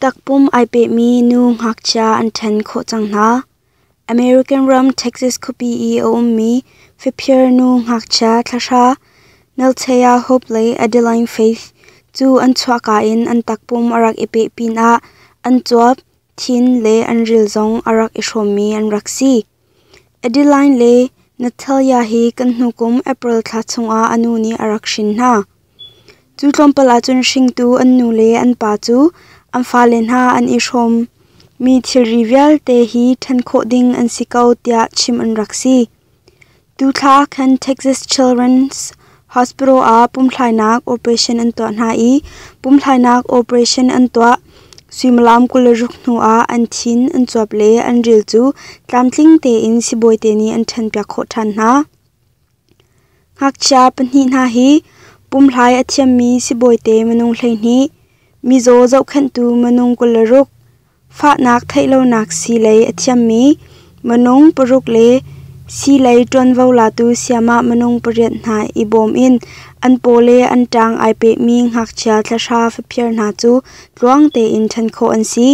Takpum ai pehmi nu ngakchia an ṭhen khawh cang hna. American ram Texas khuapi i a ummi faphiar nu ngakchia thlahra Nelthea Hope le Adeline Faith cu an chuahka in an takpum a rak i peh pinah an cuap, thin le an ril zong a rak i hrawmmi an rak si. Adeline le Natalia hi kan hnu kum April thla chungah a nu nih a rak hrin hna. Cu tlawmpal ahcun hringtu an nu le an pa cu an fale hna an i hrawm mi thilri vialte hi ṭhan khawh ding an si ko tiah chim an rak si. Tu thla ah khan Texas Children's Hospital ah pumthlainak operation an tuah hna i pumthlainak operation an tuah. Suimilam kul le ruk hnu ah an thin, an cuap le an ril cu tlamtling tein sibawi te nih an ṭhanpiak khawh ṭhan hna. Ngakchia pahnih hna hi pumhlai a thiammi sibawi te minung hleihnih, mizaw zohkhenhtu minung kul le ruk, Fahnak theih lonak sii lei a thiammi minung paruk le sii lei ṭuanvo latu sayamah minung pariat hna i bawm in an paw le an ṭang ai pehmi ngakchia thlahra faphiar hna cu tluang tein ṭhan khawh an si.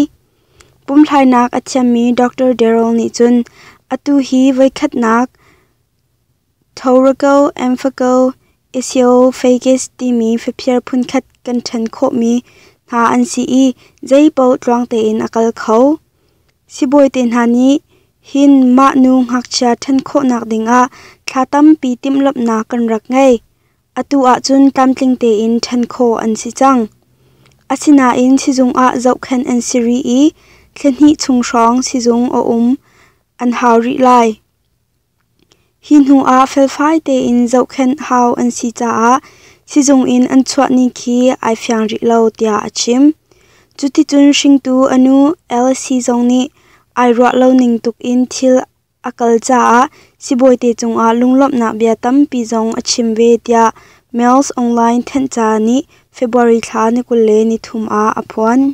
Pumthlainak a thiammi Dr. Darrell nih cun atu hi voikhatnak Thoraco Amphico Isophagus timi faphiar phunkhat kan ṭhen khawhmi hna an si i zeipaoh tluang tein a kal kho. Sibawi te hna nih hin mah nu ngakchia ṭhen khawhnak dingah thla tampi timhlamhnak kan rak ngei. Atu ahcun tlamtling tein ṭhen khawh an si cang. Asinain sizung ah zohkhenh an si rih i thlihnih chung hrawng sizung a um an hau rih lai. Hi hnuah felfai tein zohkhenh hau an si caah sizung in an chuahni khi ai fiang rih lo tiah a chim. Cuticun hringtu a nu Alice zong nih ai ruah lo ning tuk in thil a kal caah sibawite cungah lunglawmhnak bia tampi zong a chim ve tiah Mails Online thenhca nih February thla ni kul le nithum ah a phuan.